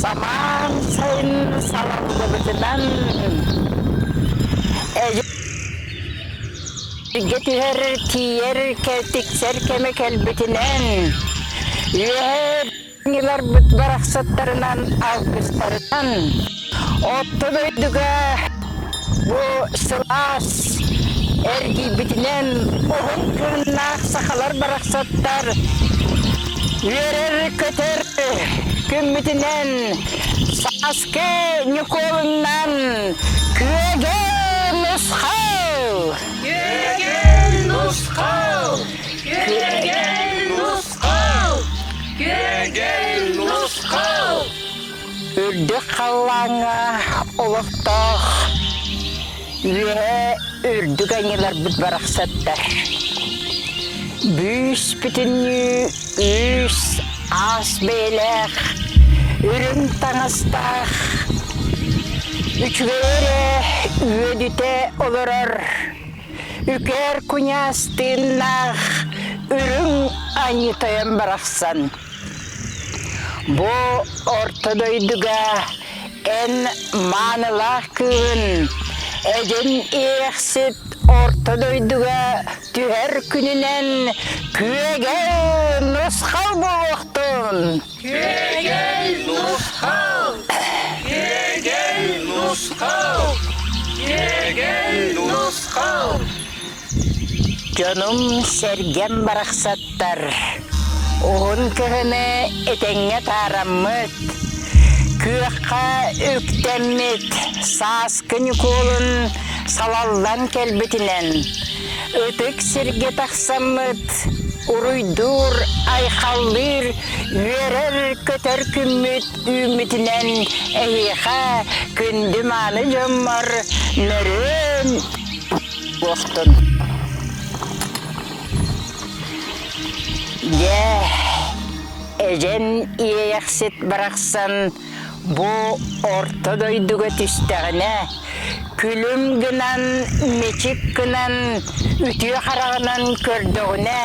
Самаан сайын салаллыбытынан өйгө түһэр, тиийэр, тиксэр кэмэ кэлбитинэн үөһээ барахсаттарынан, алгыстарынан Орто дойдуга бу сылаас эргийбитинэн уһун кыыннаах сахалар барахсаттар үөрэр-көтөр күммүтүнэн Сааскы Ньукуолуннан күөгө нусхал! Күөгө нусхал! Күөгө нусхал! Күөгө нусхал! Үрдүк халлааҥҥа олохтоох үөһэ үрдүк айныларбыт барахсаттар бүүс-бүтүннүү үүс аас бэйэлээх үрүҥ таҥастаах үчүгэй эрэ үөдүтэ олорор үкээр куньаас тыыннаах үрүҥ аньыы тойон барахсан Бу орто дойдуга эн маанылаах кыыһын эдин иэхсит орто дойдуга түһэр күнүнэн күөгэл нусхал буолуохтун! Күөгэл нусхал! Күөгэл нусхал! Күөгэл нусхал! Дьонум-сэргэм барахсаттар, уһун көһүмэ этэҥҥэ таараммыт, күөххэ үктэммит сааскы Ньукуолун салаллан кэлбитинэн ытык сиргэ тахсаммыт, уруйдуур, айхаллыыр, үөрэр-көтөр күммүт үүммүтүнэн эһиэхэ күндү-мааны дьоммор мөрүөн буохтун Дьэ, эдьэн иэйэхсит барахсан бу орто дойдуга түстэҕинэ күлүм гынан мичик гынан үтүө хараҕынан көрдөҕүнэ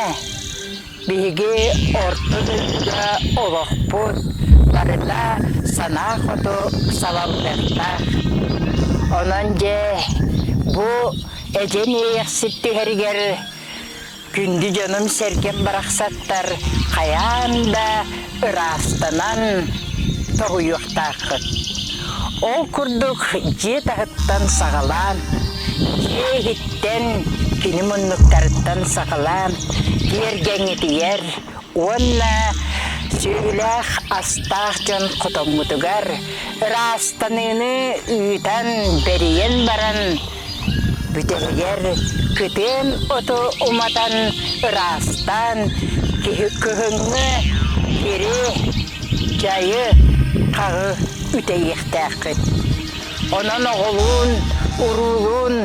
Биһиги орто дойдуга олохпут барыта санаа хоту салалтаттаах. Онон дьэ бу эдьэн иэйэхсит түһэригэр күндү дьонум сэргэм барахсаттар хайаан да ыраастанан тоһуйуохтааххыт. Ол курдук дьиэ таһыттан саҕалаан, дьиэ иһиттэн, кини муннуктарыттан саҕалаан киэргэҥитийэр уонна сүөһүлээх астаах дьон хотоҥҥутугар ыраастаныыны ыытан, бэрийэн баран Бүтэһигэр кытыым оту уматан ыраастаан, киһи кыһыҥҥы сири, дьайы, хаҕы үтэйиэхтээххит. Онон оҕолуун, уруулуун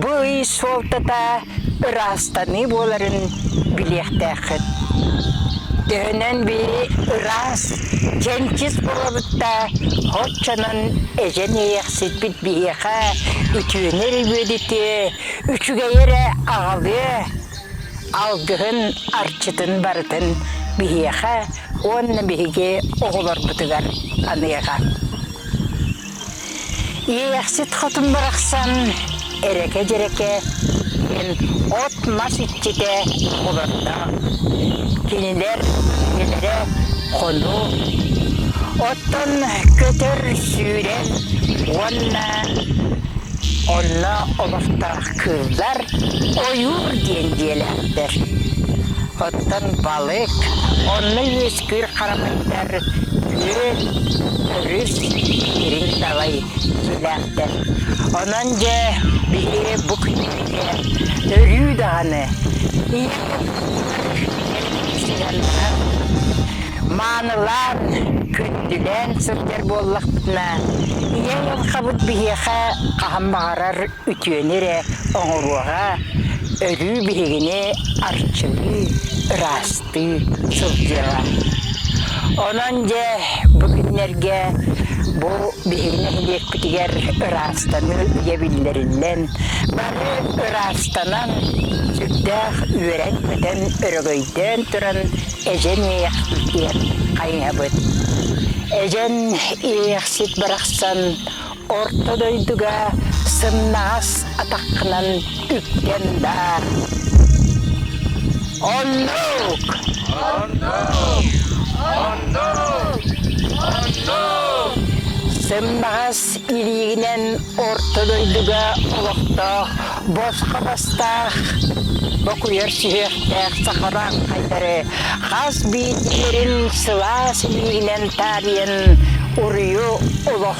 бу ый суолтата ыраастаныы буоларын билиэхтээххит. Төһөнөн бiri ыраас, дьэнчис буолабыт да, оччонон эжен эйэхситбит биһиэхэ үтүөнү өрүбүөдүтүө, үчүгэйи эрэ аҕалыа, алгыһын, арчытын барытын биһиэхэ уонна биһиги оҕолорбутугар аныаҕа. Иэйэхсит хотун барахсан эрэкэ-дьэрэкэ диэн от-мас иччитэ олордо. Кинилэр үлэлэрэ хону, оттон көтөр, сүүрэр уонна онно олорто кыыллар ойуур диэн дьиэлээхтэр. Оттон балык онно үөс Кыыр харамыйдар күөл өрүс дириҥ далай дьиэлээхтэр. Онон дьэ биһи бу күннэргэ өрүү даҕаны сыһыаннаһар, маанылаан, күндүлээн сылдьар буоллахпытына ийэ айылҕабыт биһиэхэ хаһан баҕарар үтүөнү эрэ оҥоруоҕа, өрүү биһигини арчылыы, ыраастыы сылдьыаҕа. Онон дьэ бу күннэргэ бу биһиги нэһилиэкпитигэр ыраастаныы үйэ биллэриллэн, бары ыраастанан, сүрдээх үөрэн-көтөн, өрөгөйдөөн туран эдьэн-иэх иитиэх хайыһабыт. Эдьэн иэхсит барахсан Орто дойдуга сымнаҕас атаххынан үккэн баар. Оннук! Оннук! Оннук! Оннук! Сымнаҕас илиигинэн Орто дойдуга олохтоох босхо бастаах бокуйар сүһүөхтээх сахалаан хайдары хас биирдиилэрин сылаас илиигинэн таарыйан уруйу олох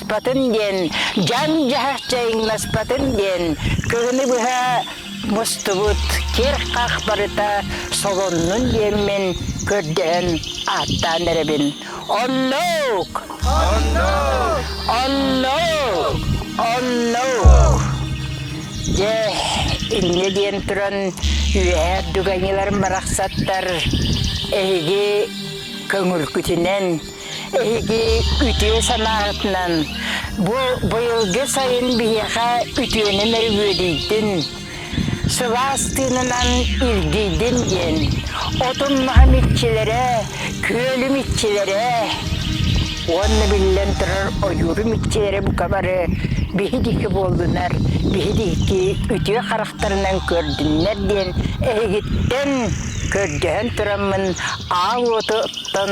муспатын диэн, дьаҥ-дьаһах дьайыҥнаспатын диэн, кыһыны быһа мустубут киэр-хах барыта солоннун диэммин көрдөһөн ааттаан эрэбин. Оннук! Оннук! Оннук! Оннук! Дьэ, инньэ диэн туран үөһээ дуганьыларым барахсаттар эһиги көҥүргүтүнэн Эһиги үтүө санааҕытынан бу быйылгы сайын биһиэхэ үтүөнэн өрүһүөдүйдүн, сылаас тыынынан ирдийдин диэн отун-маһым иччилэрэ, күөлүм иччилэрэ уонна биллэн турар ойуурум иччилэрэ бука бары биһидики буоллунар, биһидики үтүө харахтарынан көрдүннэр диэн эһигиттэн көрдөһөн тураммын аал уоту оттон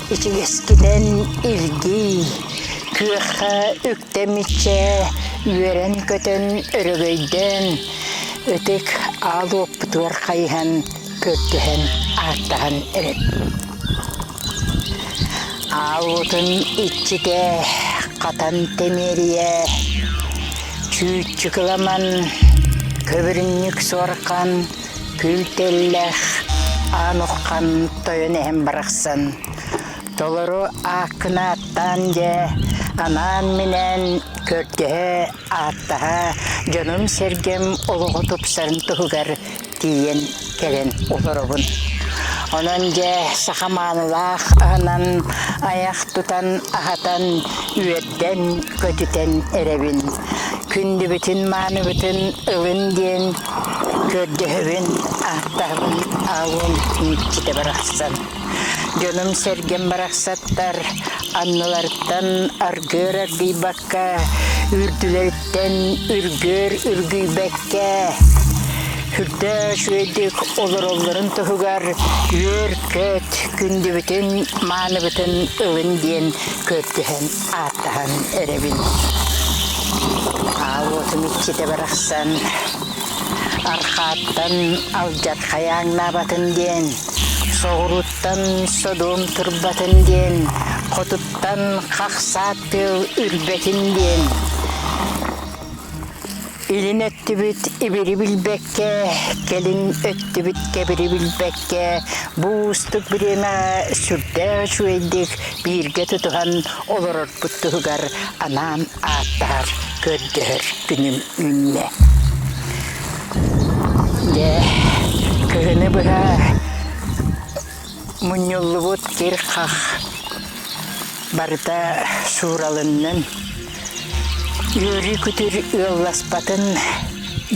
ичигэскитэн илгий, күөххэ үктэ миччэ үөрэн-көтөн өрөгөйдөөн, ытык аал уоппутугар хайыһан, көрдөһөн, ааттаһан эрэр. Аал уотун иччитэ хатан тэмиэрийэ, чүүччү кыламан, көбүрүнньүк суорҕан Күлтэллээх аан урхан тойон эһэм барахсан толору ааккыны ааттаан дьэ анаан-минээн көрдөһө, ааттаһа дьонум-сэргэм олоҕу тупсарын туһугар тиийэн кэлэн олоробун. Онон дьэ саха маанылаах аһынан айах тутан аһатан үөрдэн көтүтэн, көтүтэн эрэбин. Күндүбүтүн-мааныбытын ылын диэн көрдөһөбүн, ааттаһабын аалыам Никита барахсан. Дьонум-сэргэм барахсаттар аннылартан аргыар аргыйбакка, үрдүлэриттэн үргүөр үргүйбэккэ, үрдөөс үөдүк олороллорун туһугар үөр-көт күндүбүтүн, мааныбытын ылын диэн кыттыһан, ааттаһан эрэбин. Аавотум иччитэ барахсан Архааттан алдьатхай ааҥнаабатын диэн, соҕурууттан Содом турбатын диэн, хотуттан хахсаат тыал үрбэтин диэн Илин өттүбүт ибири билбэккэ, кэлин өттүбүт кэбири билбэккэ, бу уустук бириэмэҕэ сүрдээх үчүгэйдик бииргэ тутуһан олорорбут туһугар анаан ааттаһар, көрдөһөр күнүм үүннэ. Дьэ, кыһыны быһа Мунньуллубут кир-хах барыта сууралыннын, үөрүү-күтүр ыалласпатын,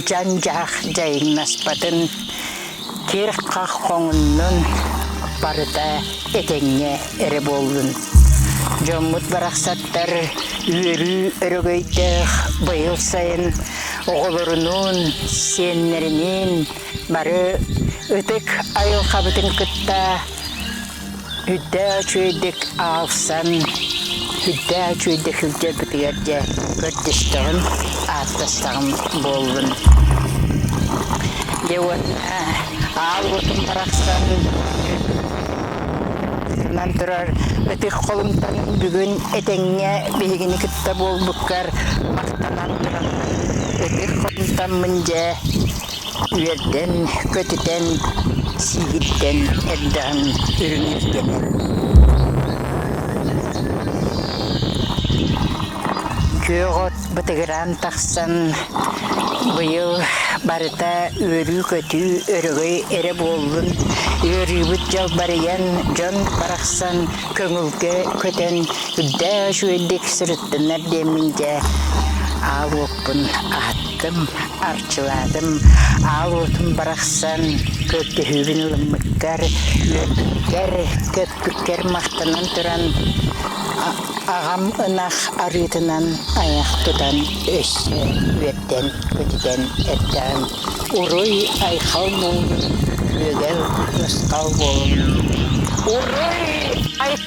дьан-дьаһах дьайыҥнаспатын, кир-хах хоҥуннун, барыта этэҥҥэ эрэ буоллун. Дьоммут барахсаттар үөрүү өрөгөйдөөх быйыл сайын оҕолорунуун, сиэннэриниин Бары ытык айылхабытын кытта үрдээ үчүгэйдик аалсан, үрдээ үчүгэйдик сылдьарбытыгар дьэ көрдөстөҕүм, ааттастаҕым буоллун. Дьэ уонна аал утум барахсан сытынан турар ытык холумтан бүгүн этэҥҥэ биһигини кытта буолбуккар махтанан туран ытык холумтаммын дьэ үөрдэн, көтүтэн, сиигирдэн эрдэҕин үрүҥ ирдэнэр Күөх от бытыгыраан тахсан быйыл барыта үөрүү-көтүү өрөгөй эрэ буоллун ыарыыбыт дьалбарыйан дьон барахсан көҥүлгэ көтөн үрдээк үчүгэйдик сырыттыннар диэммин дьэ аал уоппун аһаттым ыыттым, арчылаатым, аал уотум барахсан көрдөһүүбүн ылыммыккар, үөрбүккэр, көппүккэр махтанан туран аҕам ынах арыытынан айах тутан өссө үөрдэн көтүтэн эрдэҕим. Уруй айхал буоллун, күөгэл ысхал буоллун. Уруй айхал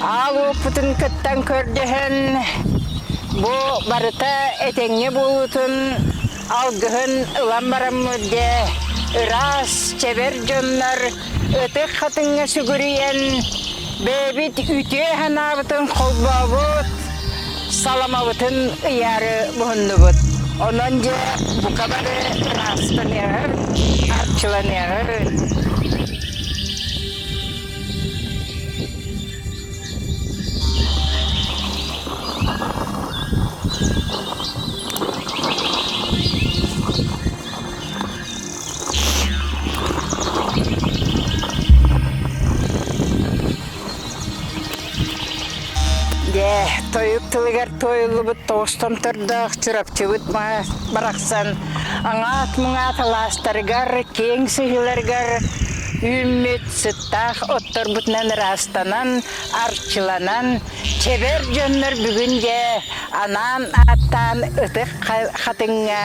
Аал уоппутун кыттан көрдөһөн, бу барыта этэҥҥэ буолуутун алгыһын ылан бараммыт дьэ, ыраас, чэбэр дьоннор ытык хатыҥҥа сүгүрүйэн, бэйэбит үтүө санаабытын холбообут, саламабытын ыйаары буһуннубут. Онон дьэ, бука бары ыраастаныаҕын, арчыланыаҕын. Дьэ, тойук тылыгар туойуллубут тоҕустан төрдөөх Чурапчыбыт барахсан аҥаат-муҥаат алаастарыгар, киэҥ сыһыыларыгар үүммүт Сыттаах отторбутунан ыраастанан, арчыланан, чэбэр дьоннор бүгүн дьэ анаан ааттаан ытык хатыҥҥа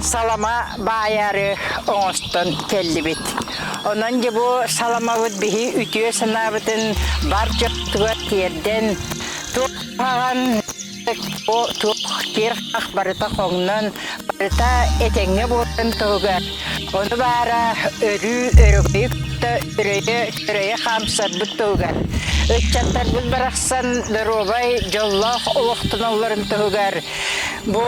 салама баайаары оҥостон кэллибит. Онон дьэ бу саламабыт биһи үтүө санаабытын бар дьоттугар тиэрдэн, туохаҕан Туох тиэх барыта хоҥнон, барыта этэҥҥэ буоларын туһугар, ону баара өрүү өрөгөйү кытта үрэйэ-үрэйэ хаамсарбыт туһугар, ыччаттарбыт барахсан доруобай дьоллоох олохтонулларын туһугар бу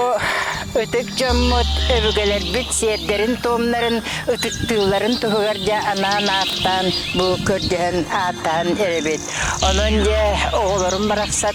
ытык дьоммут өбүгэлэрбит сиэрдэрин-туомнарын ытыктыылларын туһугар дьэ анаан ааттаан бу көрдөһөн ааттаан эрэбит. Онон дьэ оҕолорум барахсан